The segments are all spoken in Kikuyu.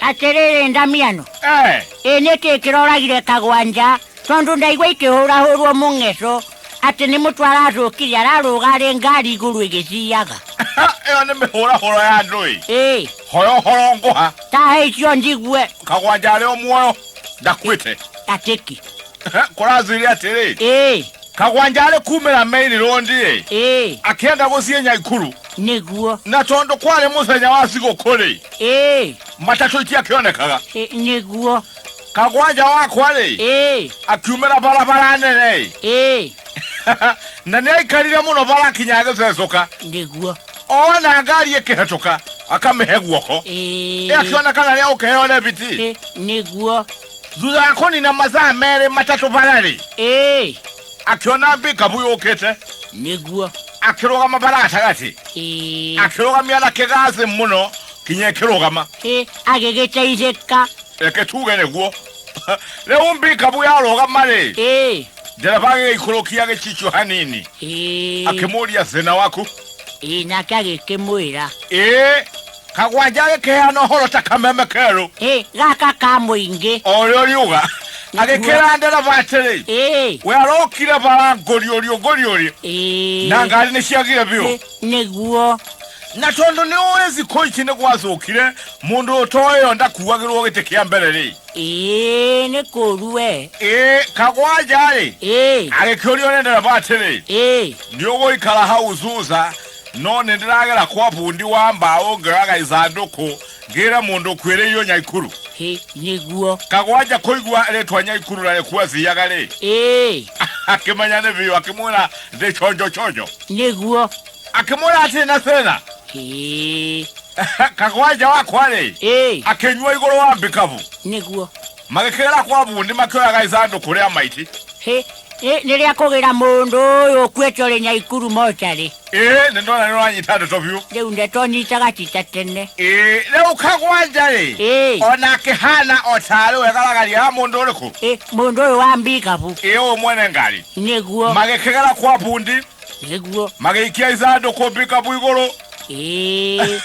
atĩrĩrĩ ndamiano Eh, ĩ nĩ kĩ kĩroragire kagwa nja tondũ ndaigua ikĩhũrahũrwo mũng'eco atĩ nĩ mũtwe aracũkire ararũga arĩ ngari igũrũ ĩgĩciaga ĩyo nĩ mĩhũrahũro ya andũ ĩ ĩ hoya ũhoro ngũha tahe icio njigue kagwanja arĩ o muoyo ndakuĩte atĩki kũrathire atĩrĩ ĩĩ kagwanja arĩ kumĩra maili rondi-ĩ ĩĩ akĩenda gũthiĩ nyaikuru nĩguo na tondũ kwarĩ mũthenya wa thigũkũ-rĩ ĩĩ matatũ itiakĩonekaga ĩ- nĩguo kagwanja wakwa-rĩ ĩĩ akiumĩra barabara nene-ĩ ĩĩ na nĩ aikarire mũno bara akinya agĩcecũka nĩguo ona ngari ĩkĩhetũka akamĩhe guoko ĩĩ ĩakĩonekana rĩa ũkĩheo rebiti ĩ- nĩguo thutha wa kũnina mathaa merĩ matatũ bararĩ ĩĩ akĩona mbikabu yũkĩte nĩguo akĩrũgama bara gatagatĩ ĩĩ akĩrũgamia na kĩgathĩ mũno kinya ĩkĩrũgama ĩĩ agĩgĩteithĩka reke tuge nĩguo rĩu mbikabu yarũgama-rĩ ĩĩ ndereba agĩgĩikũrũkia gĩcicio hanini ĩĩ akĩmũria thĩna waku ĩĩ nake agĩkĩmwĩra ĩĩ kagwanja agĩkĩheana ũhoro ta kameme kerũ Ĩ, gaka ka mũingĩ o ũrĩa ũriuga agĩkĩra ndereba atĩrĩ Ĩ, we arokire bara ngũriũriũ ngũriũriũ ĩ, na ngari nĩ ciagire biũ ĩ, nĩguo na tondũ nĩ ũĩ thikũ ici nĩ gwacũkire mũndũ ũtoĩyo ndakuagĩrwo gĩtĩ kĩa mbere rĩ Ĩ, nĩ kũru we ĩ kagwanja rĩ Ĩ, agĩkĩũrio nĩ ndereba atĩrĩ ĩ, nĩ ũgũikara hau thutha No nĩ ndĩragera kwa bundi wa mbaũ ngĩoyaga ithandũkũ ngĩre mũndũ ũkuĩrĩirwo Nyaikuru. Hĩ, nĩguo. Kagwanja kũigua rĩtwa Nyaikuru na rĩkuo athiaga rĩ, Ĩĩ, akĩmenya nĩ biũ akĩmwĩra ndĩ chonjo chonjo. nĩguo. Akĩmwĩra atĩ na thĩna Hĩ, Kagwanja wakwa rĩ, ĩĩ, akĩnyua igũrũ wa mbikabu. nĩguo. Magĩkĩgera kwa bundi makĩoyaga ithandũ kũrĩa maiti. Hĩ, ĩ, nĩ rĩa kũgĩra mũndũ ũyũ ũkuĩte ũrĩ nyaikuru mocarĩ Ĩĩ, nĩ ndona nĩ ũranyita ndeto biũ. rĩu ndeto nyitaga ti ta tene Ĩĩ, rĩu kagwanja-rĩ, Ĩĩ. o na akĩhana o tarĩ we garagaria ya mũndũ ũrĩkũ? Ĩ, mũndũ ũyũ wa mbikabu Ĩĩ, ũyũ mwene ngari. nĩguo Magĩkĩgera kwa bundi, nĩguo magĩikia ithandũkũ mbikabu igũrũ, ĩĩ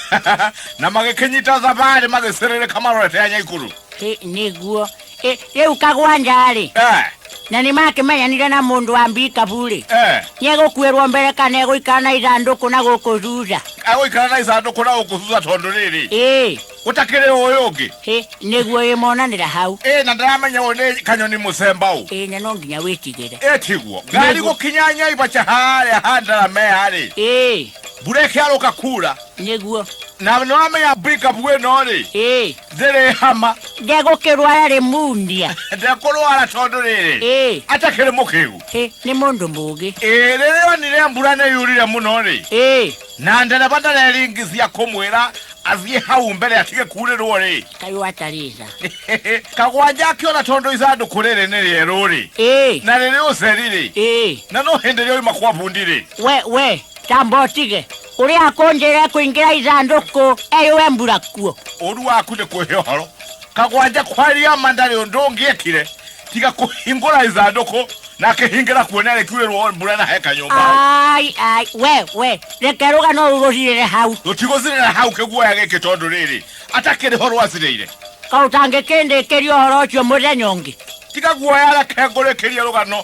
na magĩkĩnyita thabarĩ magĩcĩrĩrĩka marorete ya nyaikuru. Ĩ, nĩguo Ĩ, rĩu kagwanja-rĩ Eh, na nĩ makĩmenyanire na mũndũ wa mbikabu-rĩ eh. nĩegũkuĩrwo mbere kana egũikara na ithandũkũ na gũkũ thutha agũikara na icandũkũ na gũkũ thutha tondũ rĩrĩ ĩ gũtakĩrĩ ũyũ ũngĩ ĩ nĩguo ĩmonanĩra hau ĩ na ndaramenya ũyũ nĩ kanyoni mũcemba ũũ ĩ na no nginya wĩtigĩre ĩ tiguo ngari Nĩguo. gũkinya nyaibaca harĩa handaramea-rĩ ĩ mbura ĩkĩarũka kuura nĩguo na nĩwamenya mbikabu ĩno-rĩ ĩ ndĩrĩ hama ndegũkĩrwara rĩ mundia ndekũrwara tondũ rĩrĩ ĩ atakĩrĩ mũkĩgu ĩ nĩ mũndũ mũgĩ ĩ rĩrĩa onire mbura nĩ yurire mũno rĩ ĩ na ndereba ndareringicia kũmwĩra athiĩ hau mbere atige kurĩrwo rĩ kaĩ watarica kagwanja akĩona tondũ ithandũkũ rĩrĩ nĩ rĩerũ rĩ ĩ na rĩrĩ ũceri rĩ ĩ na no hĩndĩ ĩrĩa oima kwa bundi rĩ we we tamba ũtige Kuri akonjere kuingira ithanduku eyuwe mbura kuo. Ũru waku nĩ kũhe ũhoro kagwanja kwaria ma ndarĩ ũndũ ũngĩekire tiga kũhingũra ithandũkũ na akĩhingĩra kuo nĩ arĩkiurĩrwo mbura na he kanyũmba Ai ai we we reke rugano ruru ruthirire hau. rũtigũthirĩra hau kĩguoya gĩkĩ tondũ rĩrĩ atakĩrĩ ho rwacirĩire Ka utangikindikiri uhoro ucio muthenya ungi. tiga guoya reke ngũrĩkĩrie rũgano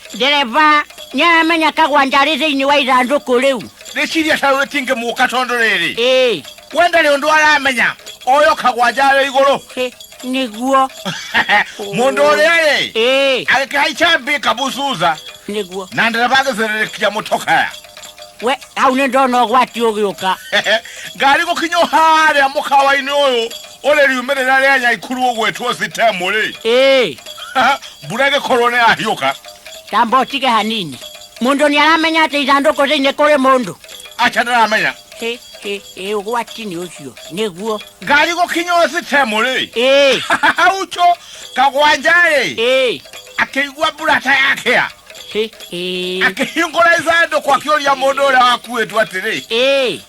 ndereba nĩ aramenya kagwanja arĩ thĩinĩ wa ithandũkũ rĩu rĩciria ta ũyũ tingĩ mũka tondũ rĩrĩ ĩĩ we ndarĩ ũndũ aramenya oyo kagwanja arĩ igũrũ ĩ, nĩguo mũndũ ũrĩa rĩ ĩĩ agĩkĩhaica mbĩ kabucuca nĩguo na ndereba agĩcererĩkia mũtokaya we hau nĩ ndona ũgwati ũgĩũka ngari gũkinywo harĩa mũkawa-inĩ ũyũ Olĩ riumĩrĩra rĩa Nyaikuru ũgwĩtwo Sitemu-rĩ, Ĩĩ, mbura ĩgĩkorwo nĩ yahiũka, tamba ũtige hanini. Mũndũ nĩ aramenya atĩ ithandũkũ thĩinĩ kũrĩ mũndũ. aca ndaramenya. Hĩ, hĩ, hĩ, ũgwati nĩ ũcio. Nĩguo. Ngari gũkinya o Sitemu-rĩ, Ĩĩ, hauco kagwanja-rĩ, ĩĩ, akĩigua mbura ta yakĩa. hĩ, hĩ, Akĩhingũra ithandũkũ akĩũria mũndũ ũrĩa wakuĩtwo atĩrĩ, ĩĩ.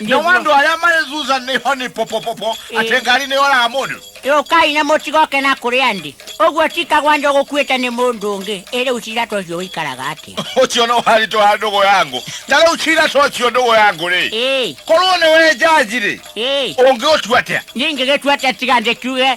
Ndiye no wandu aria marezuza ni honi popopopo Eh. ati ngari ni ora mundu yũkai na mũtigoke na kũrĩa ndĩ ũguo tikagwa njo gũkuĩte nĩ mũndũ ũngĩ ĩrĩ ũcira ta ũcio ũikaraga atĩa ucio no harito ha ndugu yangu na riu cira to ucio ndugu yangu ri ĩĩ korwo ni we jaji ri ĩĩ ungi utua atia ningĩgĩtua atĩa tiga ndĩkiuge